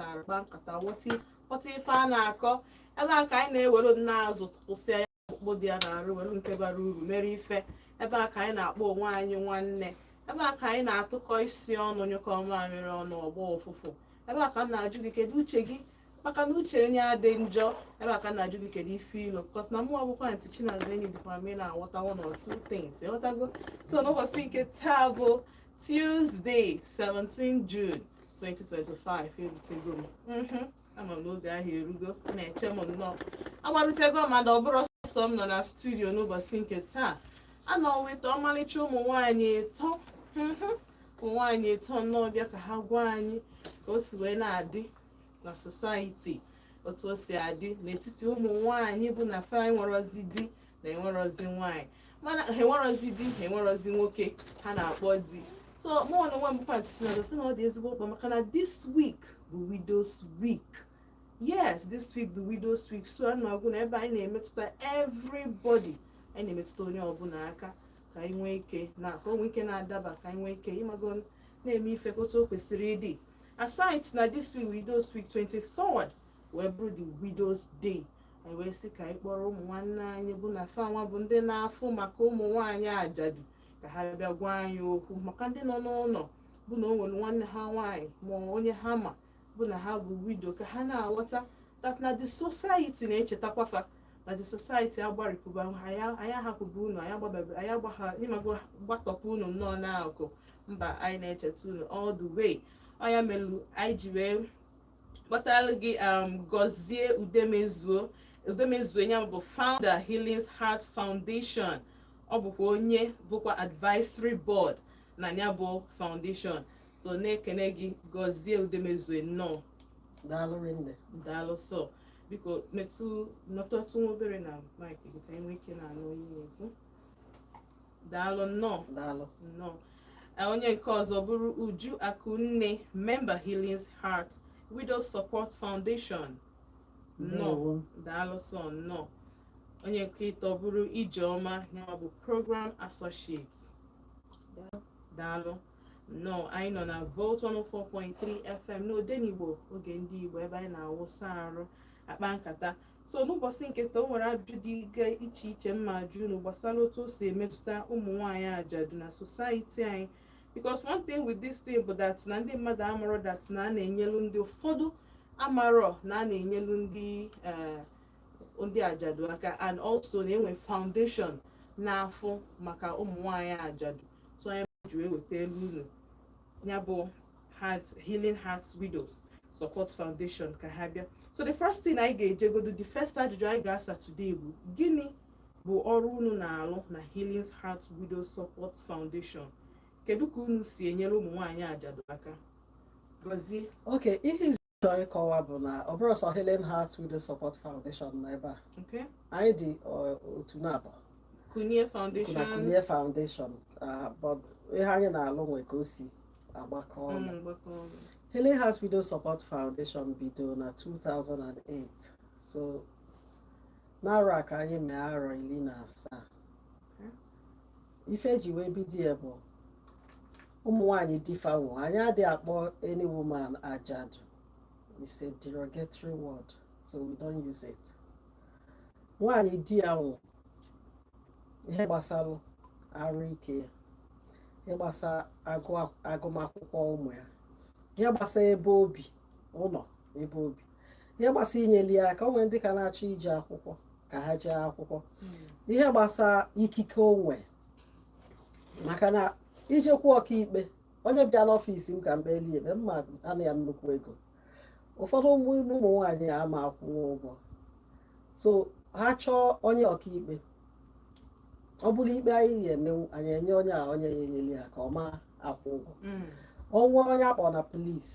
tara kpa nkata ghọta ghọta ife a na-akọ ebe a ka anyị na-ewere azụ tụpụsịa ya ọkpụkpụ dị ya n'arụ were nke bara uru mere ife ebe a ka anyị na-akpọ onwe anyị nwanne ebe a ka anyị na-atụkọ isi ọnụ nyụkọọ mamịrị ọnụ ọ gbọọ ụfụfụ ebe a ka m na-ajụ gị kedu uche gị maka na uche onye adị njọ ebe a ka m na-ajụ gị kedu ife i lo because na mụ bụkwa ntị chinaza enyi dịkwa m ị na-aghọta one or two things ị ghọtago so n'ụbọchị nke taa bụ Tuesday 17 June 2025 erutego m mm-hmm. ama m na oge ahụ erugo na-eche m nnọọ agbarutego m mana ọ bụrọ sọ m nọ na studio n'ụbọchị nke taa anọ weta ọmalịcha ụmụ nwaanyị ịtọ mm-hmm. ụmụ nwaanyị ịtọ nnọọ bịa ka ha gwa anyị ka o si wee na-adị na society otu o si adị n'etiti ụmụ nwaanyị bụ na fa enwerozi di na enwerozi nwaanyị mana ha enwerozi di ha enwerozi nwoke ha na-akpọ di so mụ na onwe m bụkwa chinaza sị na ọ dị ezigbo mkpa maka na this week bụ widows week yes this week bụ widows week so ọ na-abụ na ebe anyị na-emetụta everybody anyị na-emetụta onye ọbụla aka ka anyị nwee ike na ka o nwee ike na-adaba ka anyị nwee ike ị mago na-eme ife ka otu o kwesịrị ịdị aside na this week widows week 23rd wee bụrụ the widows day anyị wee sị ka anyị kpọrọ ụmụ nwanne anyị bụ na fanwa bụ ndị na-afụ maka ụmụ nwaanyị ajadu ka ha bịa gwa anyị okwu maka ndị nọ n'ụlọ bụ na o nwere nwanne ha nwaanyị ma onye ha ma bụ na ha bụ widow ka ha na-aghọta that na the society na-echetakwa fa na the society agbarịpụba anyị ahapụba unu anyị agbatọpụ unu nnọọ n'akụkụ mba anyị na-echeta unu all the way ọ nya melu anyị ji wee kpọtara gị um, gọzie udemezuo udemezuo ya bụ founder healings heart foundation ọ bụkwa onye bụkwa advisory board na ya bụ foundation so na-ekene gị gọzie udemezuo nnọọ daalụ rinne daalụ sọ biko metụ nọtọtụ obere na mic gị ka anyị nwee ike na-anụ onye na-ekwu daalụ nnọọ daalụ nnọọ Eh, onye nke ọzọ bụrụ uju akụnne member healings heart widows support foundation nnọọ ndewo daalụ sọ nnọọ onye nke ịtọ bụrụ ijeọma ya bụ program associate daalụ nnọọ anyị nọ na volt 104.3 fm n'odenigbo oge ndị igbo ebe anyị na-awụsa arụ akpa nkata so n'ụbọchị nke taa o nwere ajụjụ dịga iche iche m ma-ajụ unu gbasara otu o si emetụta ụmụ nwaanyị ajadu na society anyị because one thing with this thing bụ that na ndị mmadụ amarọ that na a na-enyelu ndị ụfọdụ amarọ na a na-enyelu ndị eh, ndị ajadu aka and also na-enwe foundation na-afụ maka ụmụ nwaanyị ajadu so anyị ji wee wetaelu unu ya bụ healing hearts widows support foundation ka ha bịa so the first thing anyị ga-ejegodo the first ajụjụ anyị ga-asa today bụ gịnị bụ ọrụ unu na-alụ na healing hearts widows support foundation kedu ka unu si enyere ụmụ nwaanyị ajadu aka gọzie okay ihe chọọ ịkọwa bụ na ọ bụrọ sọ Healing Hearts Widow Support Foundation nọ ebe a Okay. anyị dị ọ, otu naabọ Kunie na Foundation. Kunie Foundation ah, but ihe anyị na-alụ nwe ka o si agbakọ ọnụ Mm, gbakọ ọnụ. Healing Hearts Widow Support Foundation bido na 2008 so n'arọ a ka anyị mee arọ ili na asaa ife eji wee bido ya bụ ụmụ nwanyị di fa nwụ anyị adịghị akpọ any woman ajadu it's a derogatory word so we don't use it nwanyị di ya nwụ ihe gbasara arụ ike ya ihe gbasara agụmakwụkwọ ụmụ ya ihe gbasara ebe obi ụnọ ebe obi ihe gbasara inyeli ya aka onwe ndị ka na-achọ ije akwụkwọ ka ha jee akwụkwọ hmm. ihe gbasara ikike onwe maka na i jekwu ọkaikpe onye bịa n'ọfịs m ka m kpeli ikpe mma ana ya nnukwu ego ụfọdụ ụmụ ụmụ nwaanyị ama akwụnwu ụgwọ so ha chọọ onye ọkaikpe ọ bụrụ ikpe anyị ga-eme anyị enye onye a onye ya enyere ya aka ọ ma akwụ ụgwọ mm. o nwee onye akpọ na polis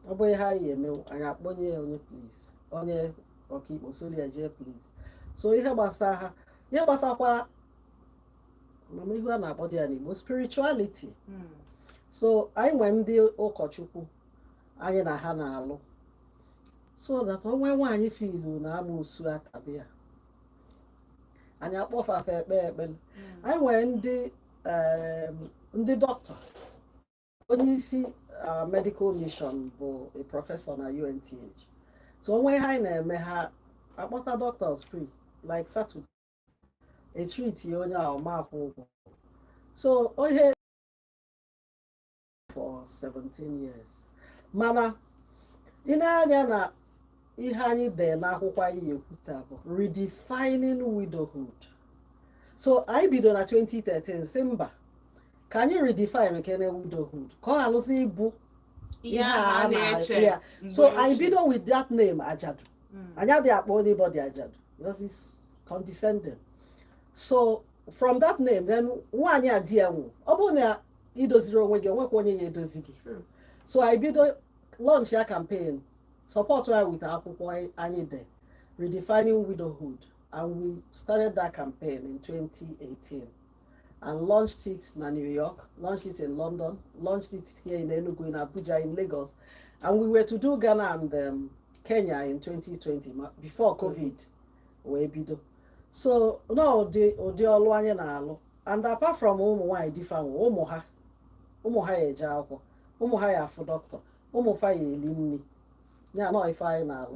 ọ bụ ihe anyị ga-eme anyị akpọnye ya onye polis onye ọkaikpe soro ya jee polis so ihe gbasara ha ihe gbasakwa ama m ihe a na-akpọdị ya n'Igbo spirituality hmm. so anyị nwee ndị ụkọchukwu anyị na ha na-alụ so that o nwee nwaanyị filu na amusu atabi ya anyị akpọ fa fa ekpe ekpere hmm. anyị nwere ndị ndị dọkịta onye isi our medical mission bụ a professor na UNTH so o nwe ihe anyị na-eme ha akpọta doctors free like Saturday e treatie onye ahụ ọ ma akwụ ụgwọ so onye for 17 years mana i nee anya na ihe anyị dee n'akwụkwọ anyị ya-ekwuta bụ redefining widowhood so anyị bido na 2013 si mba ka anyị redefine nke na widowhood ka ọ ghalụzi ịbụ ihe a a na-eche na-eche ya mgbe so anyị ochie. bido with that name ajadu Mm. anyị adịghị akpọ anybody ajadu because it's condescending so from that name then nwaanyị a di ya nwụ ọ bụrụ na i dozirọ onwe gị o nwekwa onye ya-edozi gị True. so anyị bido launch a campaign support ya with akwụkwọ anyị- anyị dee redefining widowhood and we started that campaign in 2018 and launched it na New York, launched it in London, launched it here in Enugu, in Abuja, in Lagos. And we were to do Ghana and um, Kenya in 2020 before COVID wee bido. So na ụdị ụdị ọlụ anyị na-alụ and apart from ụmụ nwaanyị di fa nwụlụ ụmụ ha ụmụ ha ya-eje akwụkwọ ụmụ ha ya-afụ dọkịta ụmụ fa ya-eli nri ya na ife anyị na-alụ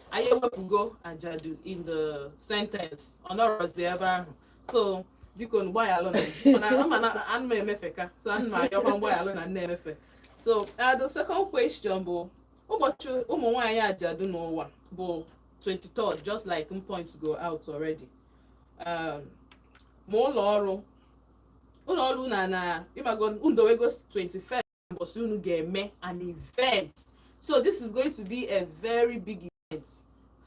anyị ewepụgo ajadu in the sentence ọ nọrọzi ebe ahụ so biko gbaghalụ na mana ana m emefeka so ana m ayọkwa mgbaghalụ na m na-emefe so uh, the second question bụ ụbọchị ụmụ nwaanyị ajadu n'ụwa bụ 23rd just like m point go out already um, ma ụlọ ọrụ ụlọ ọrụ na na ịmago unu edowego 21st mbọsị unu ga-eme an event so this is going to be a very big event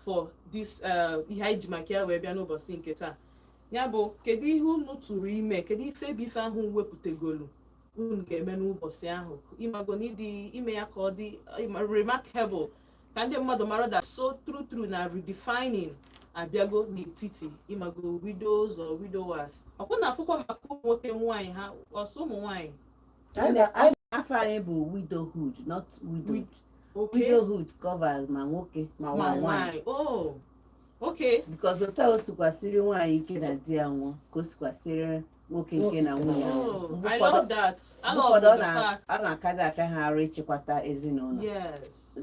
for this uh, ihe anyị ji maka ya wee bịa n'ụbọchị nke taa ya bụ kedu ihe unu tụrụ ime kedu ife bụ ife ahụ wepụtagolu unu ga-eme n'ụbọchị ahụ ịmago n'ụdị ime ya ka ọ dị remarkable ka ndị mmadụ mara that so true true na redefining abịago n'etiti ịmago widows or widowers ọ kwa unu na-afụkwa maka ụmụ nwoke nwaanyị ha ọ sọ ụmụ nwaanyị afa anyị bụ widowhood not widowed widowhood covers ma nwoke ma nwaanyị oh, because otu o sikwa esiri nwaanyị ike na di ya nwụọ ka o sikwa esiri nwoke ike na nwunye oh, ụfọdụ ọ na-akadị afịa ha arụ ịchịkwata ezinụlọ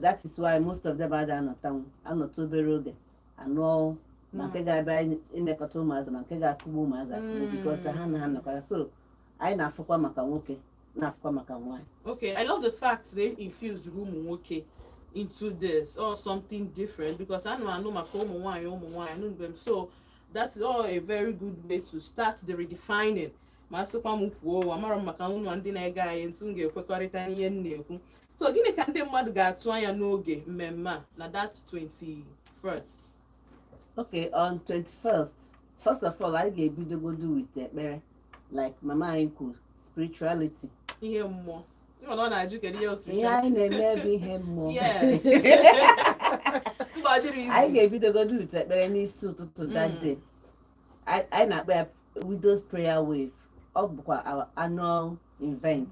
that is why most of them ada anọtanwu anọta obere oge anụọ ma nke hmm. ga-abịa ịnekọta ụmụazị ma nke ga-akụgbu ụmụazị akụgbu hmm. because ha na-anọkọta so anyị na-afụkwa maka nwoke na-afụkwa maka nwaanyị okay I love the fact they infuse ụmụ nwoke into this or something different because a na-anụ maka ụmụ nwaanyị ụmụ nwaanyị anụ mgbe m so that is all a very good way to start the redefining ma sịkwa m kwuo amara m maka ụlọ ndị na-ege anyị ntị ga-ekwekọrịta n'ihe m na-ekwu so gịnị ka ndị mmadụ ga-atụ anya n'oge mmemme a na that 21st okay on 21st first of all anyị ga-ebidogodo with ekpere like mama anyị kwuru spirituality ihe mmụọ ịma na ọ na-ajụ kedu ihe ihe osiri anyị na-eme bụ ihe mmụọ yes mba ọ dịrọ easy anyị ga-ebidogodo with ekpere n'isi ụtụtụ Mm. that day anyị anyị na-akpọ ya widows prayer wave ọ bụkwa our annual event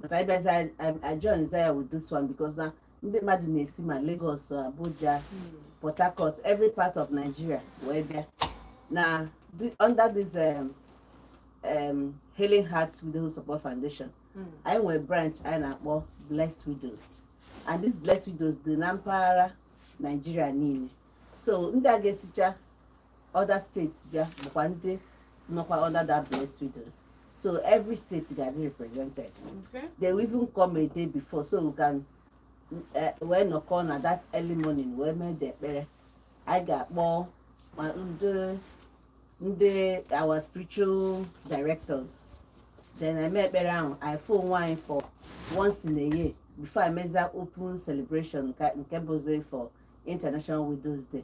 but anyị bịazi ajoinzia ya with this one because na ndị mmadụ na-esi ma Lagos Abuja hmm. Port Harcourt every part of Nigeria wee bịa na under this um, um, Healing Hearts Widows Support Foundation hmm. anyị nwere branch anyị na-akpọ Blessed Widows and this Blessed Widows dị na mpaghara Nigeria niile so ndị a ga-esicha other states bịa bụkwa ndị nọkwa under that blessed widows so every state ga-adị represented okay. they will even come a day before so we can eh, wee nọkọ na that early morning wee mee the ekpere anyị ga-akpọ ndị ndị our spiritual directors then eme ekpere ahụ afụ onwe anyị for once in a year before emezie open celebration nke bụzi for international widows day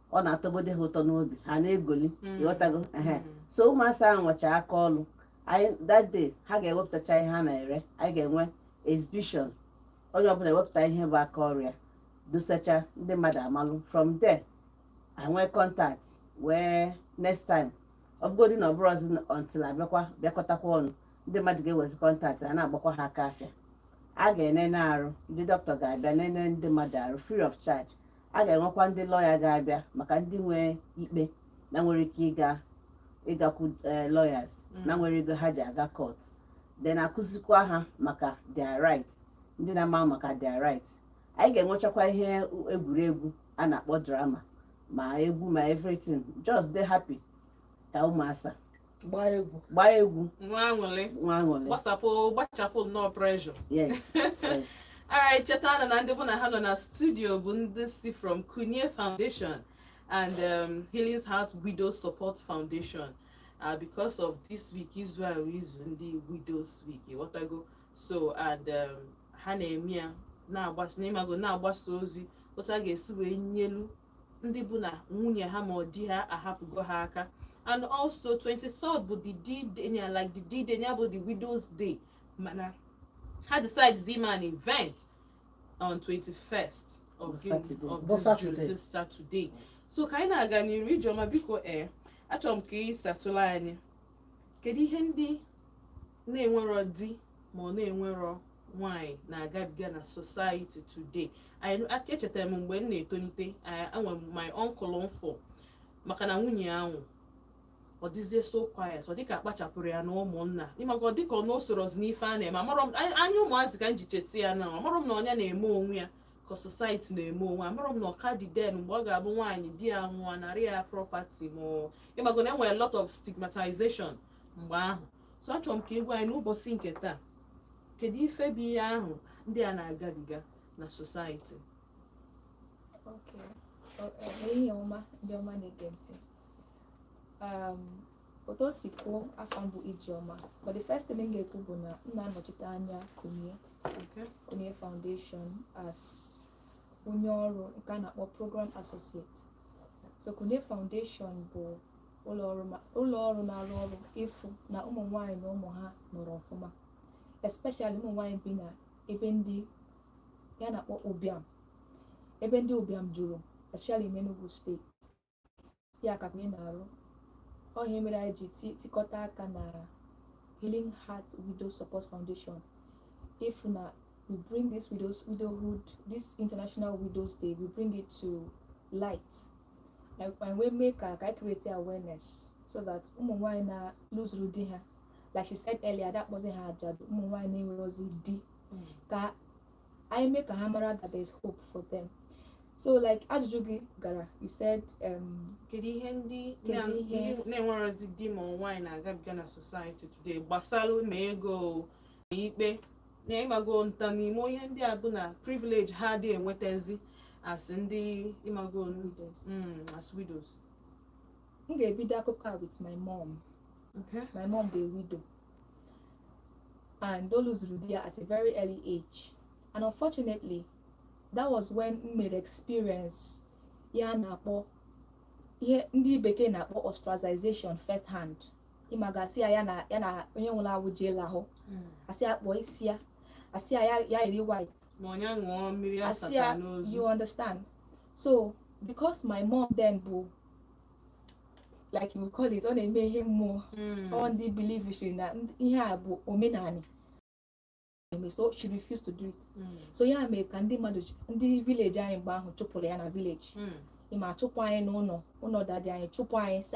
ọ na-atọgode ha ụtọ n'obi ha na-egoli mm. ịghọtago ehe mm. so ụmụasa ahụ nwecha aka ọlụ anyị that day ha ga-ewepụtacha ihe ha na-ere anyị ga-enwe exhibition onye ọbụla ewepụta ihe bụ aka ọrụ ya dosacha ndị mmadụ amalụ from there enwee contact wee next time ọ bụgodị na ọ bụrọzị until abịakwa bịakọtakwa ọnụ ndị mmadụ ga-ewezi contact a na-agbakwa ha aka afịa a ga-enene arụ ndị dọkịta ga-abịa nene ndị mmadụ arụ free of charge a ga-enwekwa ndị lọya ga-abịa maka ndị nwee ikpe na-enwerọ ike ịga ịgakwu eh, lawyers na-enwerọ ego ha ji aga court then akụzikwa ha maka their right ndị na-ama maka their right anyị ga-enwechakwa ihe egwuregwu a na-akpọ drama ma egwu ma everything just dey happy ka ụmụasa gbaa egwu gbaa egwu nwee aṅụlị nwee aṅụlị gbasapụ gbachapụ nnọọ pressure yes yes Alright, chetanụ na ndị bụ na ha nọ na studio bụ ndị si from Kunie Foundation and um, Healing's Heart Widow Support Foundation uh, because of this week izu a bụ izu ndị Widows Week ịghọtago so and um, ha na-eme ya ịmago na-agbasa ozi otu a ga-esi wee nyelu ndị bụ na nwunye ha ma ọ di ha ahapụgo ha aka and also 23rd bụ the d-day ya like the d-day ya bụ the widow's day mana ha decide ime an event on 21st of this Saturday so ka anyị na-aga n'iru ijeọma biko ee eh, achọrọ m ka ị satụlụ anyị kedu ihe ndị na-enwerọ di ma ọ na-enwerọ nwanyị na-agabiga na society today maka echetara m mgbe m na-etolite enwe my uncle m fụ maka na nwunye ya nwụ ọ dịzie so quiet ọ dịka akpachapụrụ ya na ụmụnna ịmago ọ dịka ọ na o sorozi n'ife a na-eme amarọ m anya ụmụazị ka m ji cheta ya na amarọ m na ọ nya na-eme onwe ya ka society na-eme onwe amarọ m na ọ ka dị then mgbe ọ ga-abụ nwaanyị di ya nwụọ anarị ya property ma ịmago na enwere lot of stigmatization mgbe ahụ so achọrọ m ka ị gwa anyị n'ụbọchị nke taa kedu ife bụ ihe ahụ ndị a na-agabiga na society Okay. O- o- ehihie ọma ndị ọma na-ege ntị Um, otu o si kwuo afa m bụ Ijeọma but the first thing m ga-ekwu bụ na m na-anọchite anya kunye okay kunye foundation as onye ọrụ nke a na-akpọ program associate so kunye foundation bụ ụlọ ọrụ na-arụ ọrụ ịfụ na ụmụ nwaanyị na ụmụ ha nọrọ ọfụma especially ụmụ nwaanyị bi na ebe ndị a na-akpọ ụbịam ebe ndị ụbịam juru especially n'Enugu state ya ka kunye na-arụ ọ ihe mere anyị ji tikọta aka na Healing Heart Widow Support Foundation ịfụ na we bring this widows widowhood this international widows day we bring it to light anyị wee mee ka ka anyị create awareness so that ụmụ nwaanyị na lose-uru di ha like she said earlier ada akpọzi ha ajadu ụmụ nwaanyị na-enwerozi di mm. ka anyị mee ka ha mara that there is hope for them so like ajụjụ gị gara you said um, kedu ihe ndị na-enwerozi di ma nwaanyị na-agabiga na society today gbasara ma ego ikpe na ịmago nta n'ime ihe ndị a bụ na privilege ha adị enwetazi as ndị ịmago Widows. mm, as widows m ga-ebido akụkọ a with my mom okay. my mom dị widow and o lose-uru di ya at a very early age and unfortunately that was when m mere experience ihe a na-akpọ ihe ndị bekee na-akpọ ostracization first hand ịmago asị ya ya na ya na onye nwụrụ anwụ jee lahụ hmm. asị ya kpụọ isi ya asị ya ya yiri white asị ya ṅụọ mmiri asata n'ozu you understand so because my mom then bụ like you call it ọ na-eme ihe mmụọ hmm. ọ ndị believe na ihe a bụ omenanị eme so she refused to do it hmm. so ya mere ka ndị mmadụ ndị village anyị mgbe ahụ chụpụrụ ya na village ịma chụpụ anyị n'ụnọ ụnọ daddy anyị chụpụ anyị si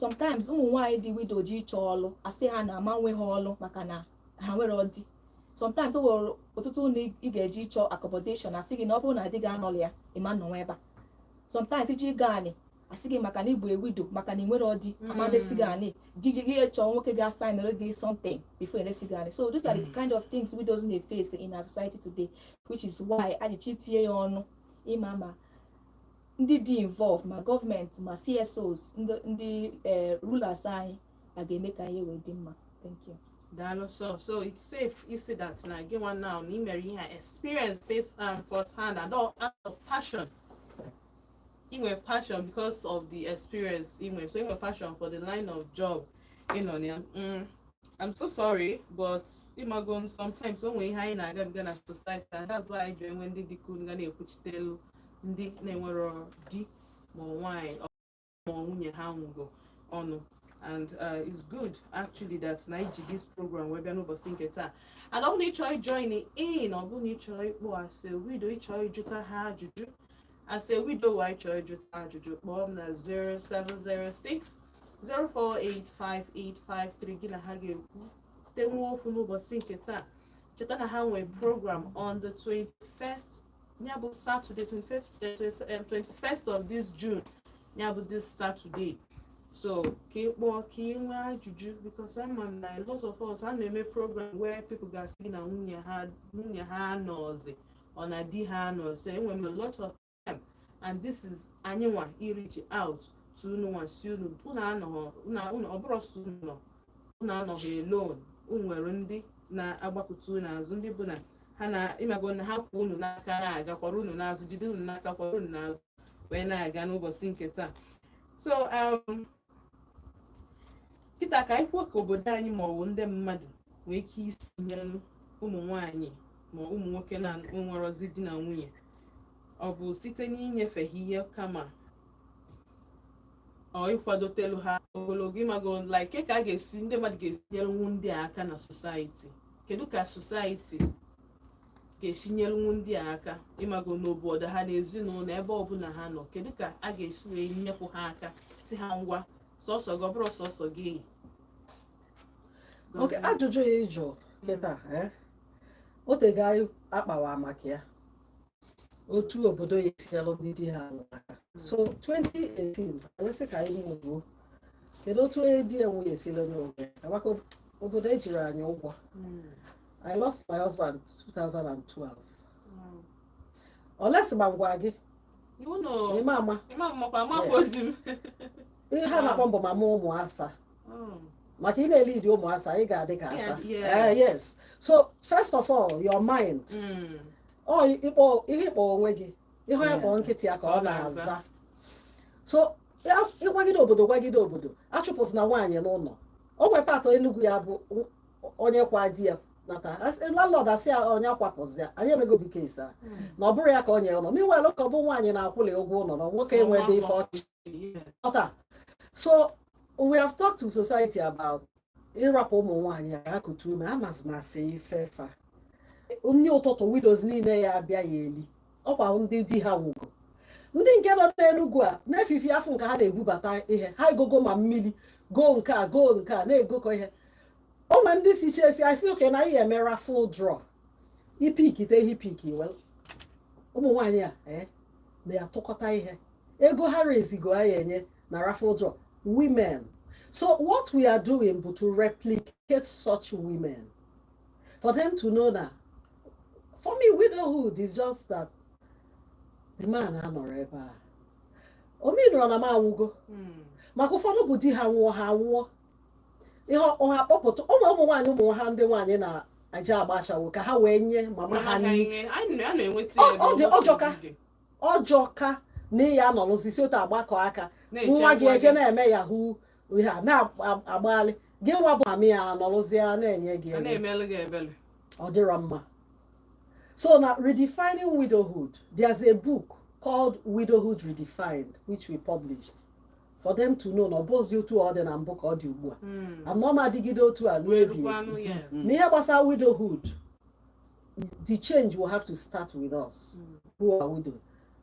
sometimes ụmụ nwaanyị dị widow jee ịchọ ọlụ asị ha na ama nye ha ọlụ maka na ha enwerọ di sometimes o nwere ọtụtụ ụlọ ị ga-eje ịchọ accommodation asị gị na ọ bụrụ na di gị anọrọ ya ị ma nọnwu ebe a sometimes i jee ịgọ anị asị gị maka na ị bụ a widow maka na i nwerọ di hmm. ama resi gị anị jiji gị chọọ nwoke ga-asignere gị something before eresi gị anị so those are the hmm. kind of things widows na-eface in our society today which is why anyị ji tinye ya ọnụ ịma ma ndị dị involve ma gọọmenti ma CSOs ndị eh, rulers anyị a ga-eme ka ihe wee dị mma thank you daalụ so so it's safe ịsị that na gị nwa now na imere ihe a experience face and um, first hand and all out of passion inwe passion because of the experience inwe so inwe passion for the line of job ịnọ na ya mm, I'm so sorry but ịmago sometimes o nwee ihe anyị na-agabiga na society and that's why anyị ji enwe ndị dịka unu ga na-ekwuchitelu ndị na-enwero di ma nwaanyị ma nwunye ha nwụgo ọnụ and uh, it's good actually that na iji this program wee bịa n'ụbọchị nke taa and ọ bụrụ na ị chọọ join in ọ bụrụ na ị chọọ ịkpọ as a widow ị chọọ ịjụta ha ajụjụ as a widower ị chọọ ịjụta ajụjụ kpọọ m na 0706 0485853 gị na ha ga-ekwutenwu okwu n'ụbọchị nke taa cheta na ha nwee program on the 21st ya bụ Saturday 21st of this June ya bụ this Saturday so ka ị kpọọ ka ị nwee ajụjụ because ama m na a lot of us a na-eme program where people ga-asị gị na nwunye ha nwunye ha anọzi or na di ha anọzi enwere m a lot of time and this is anyị nwa ịreach out to unu nwa sị unu unu anọghọ ọ bụrọ sọ unu nọ unu anọghị alone unu nwere ndị na-agbakụta unu azụ ndị bụ na ha na ịmago na ha kwụ unu n'aka na-aga kwara unu n'azụ jide unu n'aka kwara unu n'azụ wee na-aga n'ụbọchị nke taa so um, kịta ka anyị kwuo ka obodo anyị ma ọ wụ ndị mmadụ nwee ike isi nyere ụmụ nwanyị ma ụmụ nwoke na-enwerozi di na nwunye ọ bụ site n'inyefe ha ihe kama or ịkwadotelu ha ogologo ịmago like ka a ga-esi ndị mmadụ ga-esi nyelụnwu ndị a aka na society kedu ka society ga-esi nyelụnwu ndị a aka ịmago n'obodo ha na ezinụlọ ebe ọbụla ha nọ kedu ka a ga-esi wee nyekwu ha aka sị ha ngwa sọsọ gị ọ bụrọ sọsọ gị okay ajụjụ a ị jụ kịta eh? o tego anyị akpawa maka ya otu obodo ya-esi nyelụ ndị di ha nwụlụ aka so 2018 wesị ka anyị nwụruo kedu otu onye di ya nwunye esile n'oge ka maka obodo ejirọ anyị ụgwọ I lost my husband 2012 oles ma ngwa gị iwu na ịma ama ịma mmakwa amakwa ozi m ihe ha na-akpọ m bụ mama ụmụ asa Mm. maka ị na-elead ụmụ asa ị ga-adị ka asa Yeah, Eh, yes so first of all your mind Mm. ọ ịkpọ ihe ịkpọ onwe gị ihe onye kpọrọ nkịta ya ka ọ na-aza so ya- ịgwagide obodo gwagide obodo achụpụzina nwaanyị n'ụlọ o nwere part of enugwu ya bụ onye kwaa di ya nata landlord asị ya onye akwapụzi ya anyị emego ụdị case a na ọ bụrọ ya ka o nyere ụlọ meanwhile ka ọ bụ nwaanyị na-akwụli ụgwọ ụlọ na nwoke enwedị ife ọ chị ọka so we have talked to society about ịrapụ ụmụ nwaanyị ya akụtu ume amasị na afe ifefa nri ụtụtụ widows niile ya abịa ya eli ọkwa ndị di ha nwụgo ndị nke nọ n'enugwu a na-efifi afọ nke ha na-ebubata ihe ha egogo ma mmiri goo nke a goo nke a na-egokọ ihe o nwere ndị si church asị okay na ị ya eme raffle draw ipikite ihe ipiki ụmụ nwaanyị a eh, na-atụkọta ihe ego ha raisego ha ya enye na raffle draw women so what we are doing bụ to replicate such women for them to know that for me widowhood is just that the man anọrọ ebe a ọ meanịrọ na m anwụgo hmm. maka ụfọdụ bụ di ha nwụọ ha nwụọ ihe ọ ha kpọpụta ụmụ ụmụ nwaanyị ụmụ ha ndị nwaanyị na aja agba ashawo ka ha wee nye mama ha nri ọ dị ọ jọka ọ jọka na ị ya anọrụzi si otu agbakọ aka nwa gị eje na-eme yahoo ha na-agbaghalị gị nwa bụ amị ya anọrụzie na-enye gị ọ dịrọ mma so now redefining widowhood there's a book called widowhood redefined which we published for them to know na ọ bụzi otu ọ dị na mbụ ka ọ dị ugbu a hmm. anọ m adịgide otu a n'ebi na ihe gbasara widowhood the change will have to start with us hmm. who are widow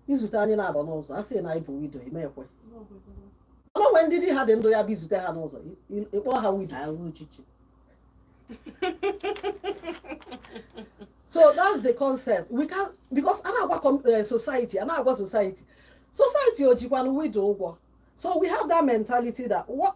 i zute anyị na-aba n'ụzọ a sị na anyị bụ widow ị ma ekwe o nwee ndị di ha dị ndụ ya bụ i zute ha n'ụzọ ị kpọọ ha widow ahụ uchichi so that's the concept we can because a na-agwa eh, society a na-agwa society society o jikwana widow ụgwọ so we have that mentality that what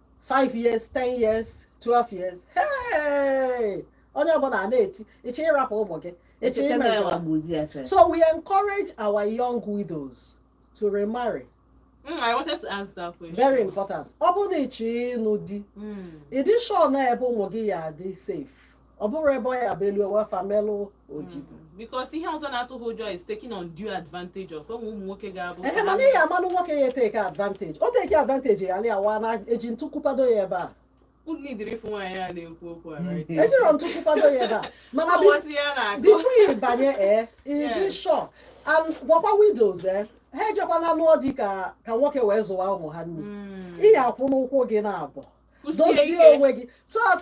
5 years 10 years 12 years hey! onye ọbụla a na-eti ị chọ ịrapụ ụmụ gị ị chọ ime so we encourage our young widows to remarry Mm, I wanted to ask that question. Very important. Ọ bụrụ na ị chọ ịnụ di, ị dị sure na ebe ụmụ gị ya adị safe. ọ bụrụ ebe ọ ya bụ elu owe ife melụ o ji bụ because ihe ọzọ na-atụ ha ụjọ is taking undue advantage of ụmụ ụmụ nwoke ga-abụ ehe mana ị ga-amanụ nwoke ya etake advantage ọ take advantage ya alị awa na eji ntu kwụpado ya ebe a unu needịrị ịfụ nwaanyị a na-ekwu okwu a right? ejirọ ntu kwụpado ya ebe a mana Ọ bi- ghọtara ya na-akọ before you banye ee ị dị Yes. sure and gwakwa widows ee ha ejekwana lụọ di ka ka nwoke wee zụwa ụmụ ha nne Mm. ị ya akwụ n'ụkwụ gị naabọ dozie onwe gị so that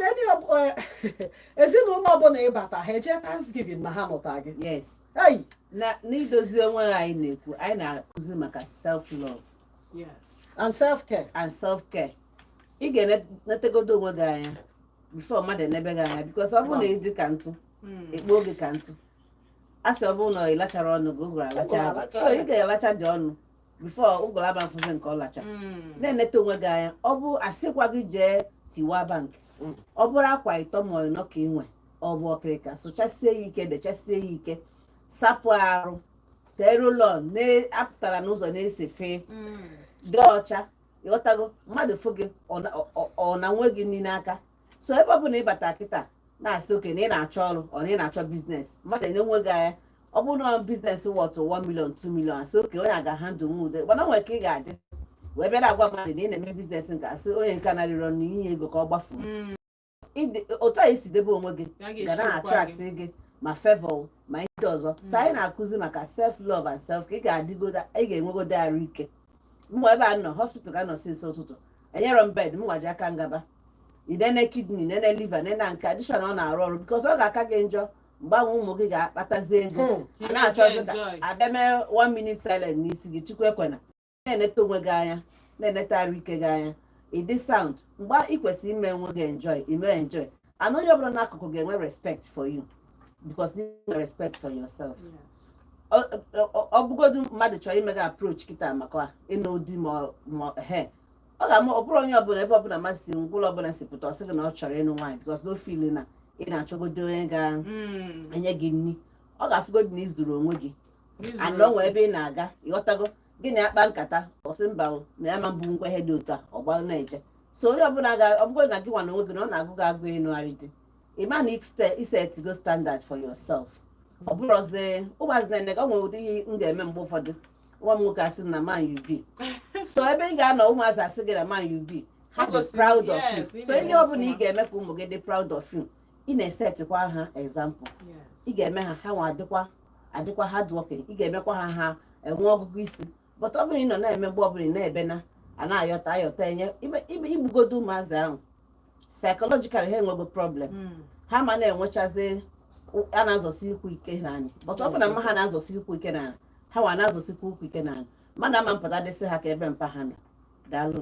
ezinụlọ ọbụla ịbata ha eje thanksgiving na ha nụta gị n'idozi onwe anyị na-ekwu anyị na-akụzi maka self love and self care and self care ị ga-enetegodo onwe gị anya before mmadụ enebe gị anya because ọ bụrụ na ị dị ka ntụ hmm. ekpoo gị ka ntụ a sị ọ bụrụ na ị lacharọ ọnụ gị ụgụrụ alachaba so ị ga-alacha dị ọnụ before ụgụrụ abịa fụzie nke ọ lacha Mm. na-eneta onwe gị anya ọ bụ asịkwa gị jee tiwa bank Mm. ọ bụrụ akwa ịtọ ma ịnọ ka i nwe ọ bụ okirika sụchasie ya ike dechasie ya ike sapụ arụ tee roll-on apụtara n'ụzọ na-esi fee Mm. dị ọcha ịghọtago mmadụ fụ gị ọ na- ọ- ọ na nwe gị niile aka so ebe ọ bụla ịbata kịta na-asị okay na ị na-achọ ọrụ ọ na ị na-achọ business mmadụ enene gị anya ọ bụrụ na business worth 1 million 2 million asị okay onye a ga-handle nwu ude gbana nwere ka ị ga-adị wee bịa na-agwa mmadụ na ị na-eme business nke asị onye nke na-arịọ na inye ego ka ọ gbafuo Mm. Ịdị- otu anyị si debe onwe gị Ya ga ga na-esi ụkwa attract gị. gị ma favor ma ndị ọzọ so anyị na-akụzi maka self love and self care ị ga-adịgodo ị ga-enwegodo arụ ike mụ ebe a nọ hospital ka m nọ since ụtụtụ enyerọ m bed mụwa ji aka m gaba inene kidney nene liver nene nke a dị sure na ọ na-arụ ọrụ because ọ ga-aka gị njọ mgbe ụmụ gị ga-akpatazi ego Hmm. a na-achọzi ka Enjoy. abịa mee one minute silent n'isi gị chukwu ekwena na-eneta onwe gị anya na-eneta arụ ike gị anya ịdị sound mgbe ị kwesịrị ime onwe gị enjoy ime enjoy and onye ọbụla n'akụkụ ga-enwe respect for you because i nwere respect for yourself ọ bụgodu mmadụ chọrọ ime gị approach kịta maka ịnụ di ma he ọ ga-ama ọ bụrụ onye ọbụla ebe ọbụla mmadụ si ngwuru ọbụla si pụta ọ sị gị na ọ chọrọ ịnụ nwaanyị because na ọ feel na ị na-achọgodo onye ga-enye hmm. gị nri ọ ga-afụgodu na ị zuru onwe gị and o nwee ebe ị na-aga ịghọtago gị na ya kpaa nkata ọ sị mba o, na ya ma mbụ nkwa ihe dị otu a ọ gbalụ na-eje so onye ọbụla ga ọ bụrụ na gị nwa na onwe gị na ọ na-agụ gị agụ ịnụgharị di ị ma na iste- isetigo standard for yourself ọ bụrụzi ụmụazị na-ene ka ọ nwere ụdị ihe m ga-eme mgbe ụfọdụ nwa m nwoke asị m na man you be so ebe ị ga-anọ ụmụazị asị gị na man you be ha dị Gosi- proud of yes, you ị so ihe na-egosi ọbụla ị ha. ga-eme ka ụmụ gị dị proud of you ị na-esetịkwa ha example Yes. ị ga-eme ha ha nwa adịkwa adịkwa hardworking ị ga-emekwa ha ha enwe ọgụgụ isi but ọ bụrụ ị nọ na-eme mgbe ọbụla ị na-ebe na a na-ayọta ayọta e nye i gbugodo ụmụazị ahụ psychologically ha enwego problem hmm. ha ma na-enwechazi a na-azọsi ụkwụ ike n'anị but ọ bụ na mma ha na-azọsi ụkwụ ike n'anị ha nwa na-azọsikwa ụkwụ ike n'anị mmadụ ama pụtadị sị ha kee ebe mpa ha nọ daalụ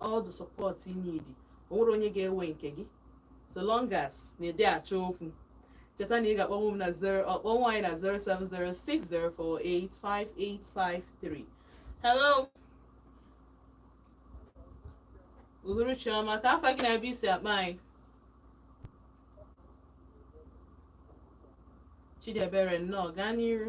all the support you need o nwerọ onye ga-ewe nke gị so long as na ị dị achọ okwu cheta na ị ga-akpọnwu m na akpọnwu anyị na 07060485853 hello uhuruchi ọma ka afa gị na ebe i si akpọ anyị Chidiebere nnọọ gaa n'iru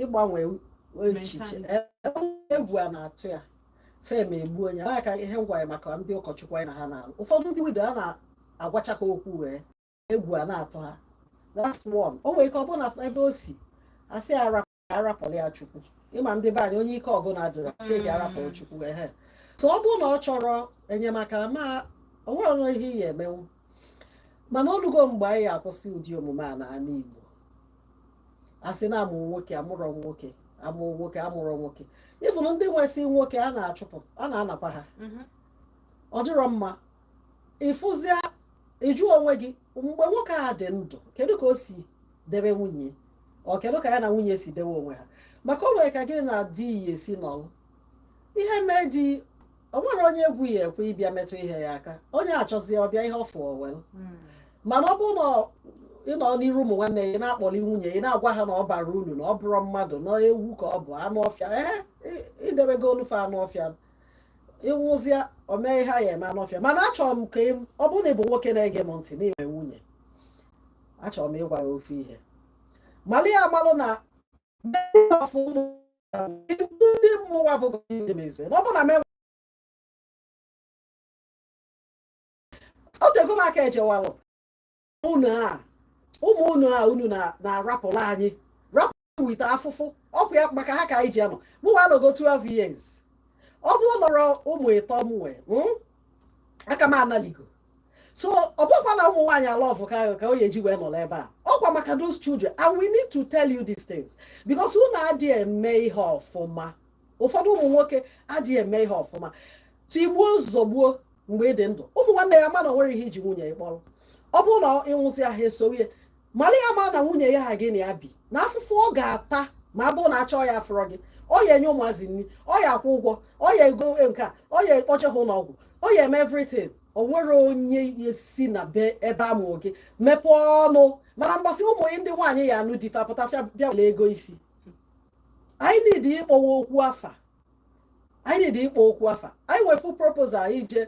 ịgbanwe echiche egwu a na-atụ ya fem egbu onye a ka ihe m gwa ya maka ndị ụkọchukwu anyị na ha na-alụ ụfọdụ ndị widow a na-agwacha ha okwu wee egwu a na-atụ ha that's one o nwere ike ọ bụrụ na ebe o si a sị a rapụlụ ya chukwu ị ma ndị be anyị onye ike ọgụ na-adịrọ a sị ya rapụrụ mm. chukwu ehe so ọ bụrụ na ọ chọrọ enyemaka ma o nwerọnụ ihe ị ya emenwu mana o lugo mgbe anyị ya akwụsị ụdị omume a n'ala Igbo a sị na amụ nwoke amụrọ nwoke amụ nwoke amụrọ nwoke even ndị nwesị nwoke a na-achụpụ a na-anakwa ha mhm. ọ dịrọ mma ị fụzia ị jụọ onwe gị mgbe nwoke a dị ndụ kedu ka o si debe nwunye o kedu ka ya na nwunye si debe onwe ha maka o nwere ka gị na di ị ya esi nọrọ ihe mee di o nwerọ onye egwu ya ekwe ịbịa metụ ihe ya aka onye chọzie ọ bịa ihe ọ fụ o welụ Mm. mana ọ bụrụ na ọ- ị nọ n'iru ụmụ nwanne ya ị na-akpọlị nwunye ị na-agwa ha na ọ barọ uru na ọ bụrọ mmadụ na ewu ka ọ bụ anụ ọfịa ee ị- i debegonụ ya anụ ọfịa ị nwụzia o mee ihe a ya eme anụ ọfịa mana achọrọ m ka ị- ọ bụrụ na ị bụ nwoke na-ege m ntị na i nwe nwunye achọrọ m ịgwa ya ofu ihe mali ya amalụ na ndị mmụwa bụ ndị mezue na ọ bụrụ na m o tego m aka e jewalụ unu a ụmụ unu a unu na-arapụrụ anyị rapụrụ ite afụfụ ọ kwa maka ha ka anyị ji anọ mụnwa anọgo 12 years ọ bụrụ na ọrọ ụmụ ịtọ m nwee hmm? aka m analigo so ọ bụkwa na ụmụ nwaanyị a love ka ka onye ji wee nọrọ ebe a ọ kwa maka those children and we need to tell you these things because unu adịghị eme ihe ọfụma ụfọdụ ụmụ nwoke adịghị eme ihe ọfụma tigbuo zọgbuo mgbe ị dị ndụ ụmụ nwanne ị ya ama na o nwerọ ihe i ji nwunye ị kpọrọ ọ bụrụ na ị nwụzia ha esowe mara ya ma na nwunye ya ahụ gị na ya bi na afụfụ ọ ga-ata ma a bụ na a chọọ ya afụrọ gị ọ ya enye ụmụazị nri ọ ya akwụ ụgwọ ọ ya ego e, nke a ọ ya akpọje ha ụlọọgwụ ọ ya eme everything o nwerọ onye ya esi na be ebe amụ gị mepee ọnụ mana mgbe a sị ụmụ ndị nwaanyị ya anụ di fa apụta fa abịa were ego isi anyị need ịkpọwa okwu afa anyị dị ịkpọ okwu afa anyị wefu proposal ije